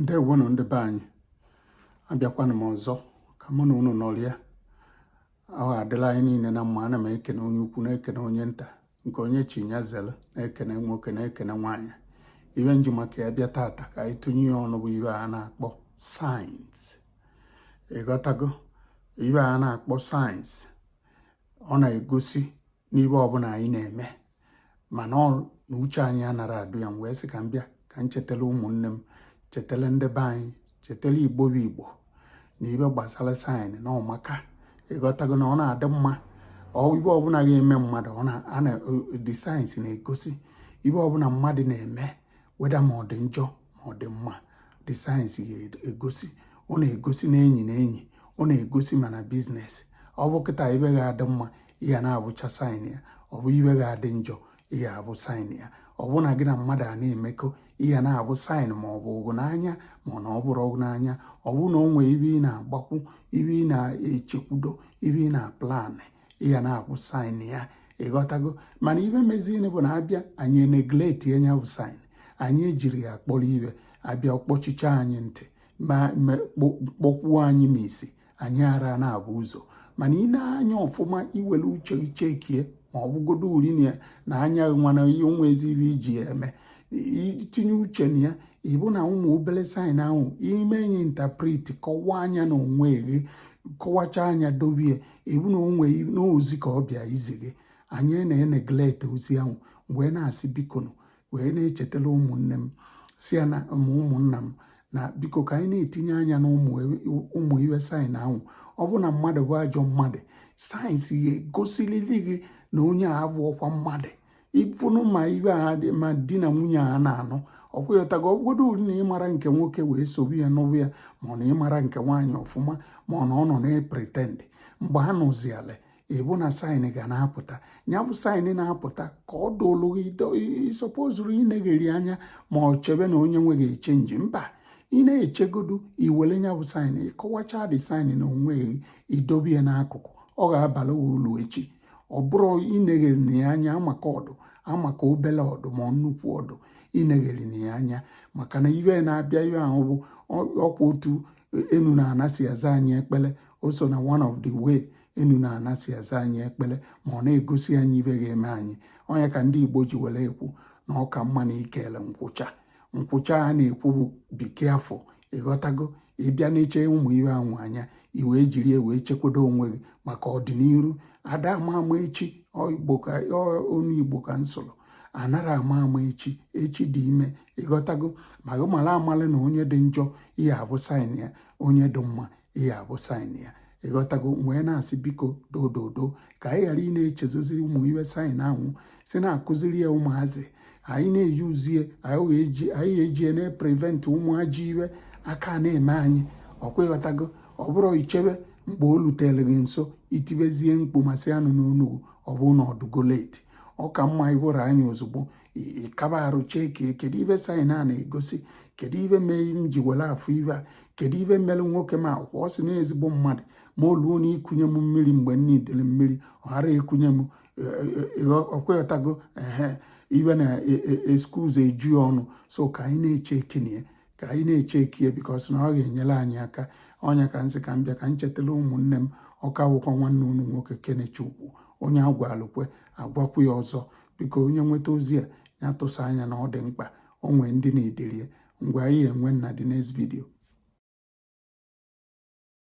ndewonụ ndị be anyị abịakwanụ m ọzọ ka mụ na unu nọrịa ọ ga-adịla anyị niile na mma ana m ekene onye ukwu na-ekene onye nta nke onye chi nya zere na-ekene nwoke na-ekene nwaanyị ibe m ji maka ya bịa tata ka anyị tụnye ya ọnụ bụ ibe a na-akpọ signs ịghọtago ibe a na-akpọ signs ọ na-egosi n'ibe ọbụla anyị na-eme mana ọ na uche anyị anara adụ ya m wee sị ka m bịa ka m chetara ụmụnne m chetara ndị be anyị chetara igbo bụ igbo na ibe gbasara signs na ọ maka ịghọtago na ọ na-adị mma ibe ọbụla ga-eme mmadụ ọ na the signs na-egosi ibe ọbụla mmadụ na-eme whether ma ọ dị njọ ma ọ dị mma the signs ga-egosi ọ na-egosi na enyi na enyi ọ na-egosi ma na business ọ bụ kịta ibe ga-adị mma ị ga na-abụcha sign ya ọ bụ ibe ga-adị njọ ị ga-abụ sign ya ọ bụ na gị na mmadụ a na-emekọ ị ga na-abụ sign ma ọ bụ gị n'anya ma ọ na ọ bụrọ gị n'anya ọ bụ na o nwee ibe ị na-agbakwu ibe ị na-echekwudo ibe ị na-aplanị ị ga na-afụ sign ya ịghọtago mana ibe meziini bụ na abịa anyị enegleti nya bụ sign anyị ejiri ya kpọrọ ibe abịa kpọchicha anyị ntị ma kpọkwuo anyị ma isi anyị ara na-abụ ụzọ mana i nee anya ọfụma iwere uche chekie ma ọ bụgodo uri na ya na anya nwana ihe onwe ezi ibe iji ya eme itinye uche na ya ịbụ na ụmụ obere sign ahụ ime nya interpret kọwaa nya na onwe gị kọwacha nya dobie ịbụ na onwe n'ozi ka ọ bịa izi gị anyị na-eneglete ozi ahụ wee na-asị bikonu wee na-echetara ụmụnne m si ya na ụmụnna m na biko ka anyị na-etinye anya na ụmụ ibe sign ahụ ọ bụ na mmadụ bụ ajọ mmadụ signs ya egosilili gị na onye a abụọkwa mmadụ ị fụnụ ma ibe a dị ma di na nwunye a na-anụ ọkwa ịghọtago ọbụgodo uri na ịmara nke nwoke wee sobe ya n'ụbụ ya ma ọ na ịmara nke nwaanyị ọfụma ma ọ na ọ nọ na-epretend mgbe ha nụzi ala ịbụ na sign ga na-apụta ya bụ sign na-apụta ka ọ dụlụ ịsọpozuru inegheri anya ma ọ chebe na onye nwe ga-echenji mba ị na-echegodu iwere ya bụ sign ịkọwacha the sign na onwe gị idobe ya n'akụkụ ọ ga-abala uru echi ọ bụrụ ineghere na ya anya maka ọdụ amaka obele ọdụ ma nnukwu ọdụ ineghere na ya anya maka na ibe na-abịa ibe ahụ bụ ọkwa otu enu na ana si aza anyị ekpere o so na one of the way enu na ana si aza anyị ekpere ma ọ na-egosi anyị ibe ga-eme anyị ọ nya ka ndị Igbo ji were ekwu na ọ ka mma na ikele nkwụcha nkwucha a na-ekwu bụ be careful ị ghọtago ị bịa na-eche ụmụ ive anwụ anya i wee jiri ya wee chekwado onwe gị maka ọdịnihu ada ama ama echi ọ n'igbo ka m sụrụ anara ama ama echi echi dị ime ị ghọtago ma gị mara amara na onye dị njọ ihe a bụ sign ya onye dị mma ihe a bụ sign ya ị ghọtago wee na-asị biko dododo ka anyị ghara ị na-echezozi ụmụ ive sign ahụ si na-akụziri ya ụmụazị anyị na-euse ya anyị ejie na-eprevent ụmụ ajọ ive a ka na-eme anyị ọkwa ị ghọtago ọ bụrụ i chebe mgbe o lutere gị nso i tibezie mkpu ma sị anụ n'onu gị ọ bụ na ọ dụgo late ọ ka mma ịwụrụ anyị ozugbo ị kaba arụ check kedu ive sign a na-egosi kedu ive mee m ji were afụ ive a kedu ive mere nwoke m a kwuo sị na ezigbo mmadụ ma o luo na ikunye m mmiri mgbe m needịrị mmiri ọ ghara ekunye m e, e, e, ọkwa ị ghọtago ehe ive na excuse eju ọnụ so ka anyị na-echeckịnị ya ka anyị na-echeck ya because na ọ ga-enyere anyị aka ọ nya ka m sị ka m bịa ka m chetara ụmụnne m ọ ka wụkwa nwanne unu nwoke Kenechukwu onye agwalụ kwe agwakwu ya ọzọ biko onye nweta ozi a ya tụsa anya na ọ dị mkpa o nwee ndị needịrị ya ngwa anyị enwe na the next video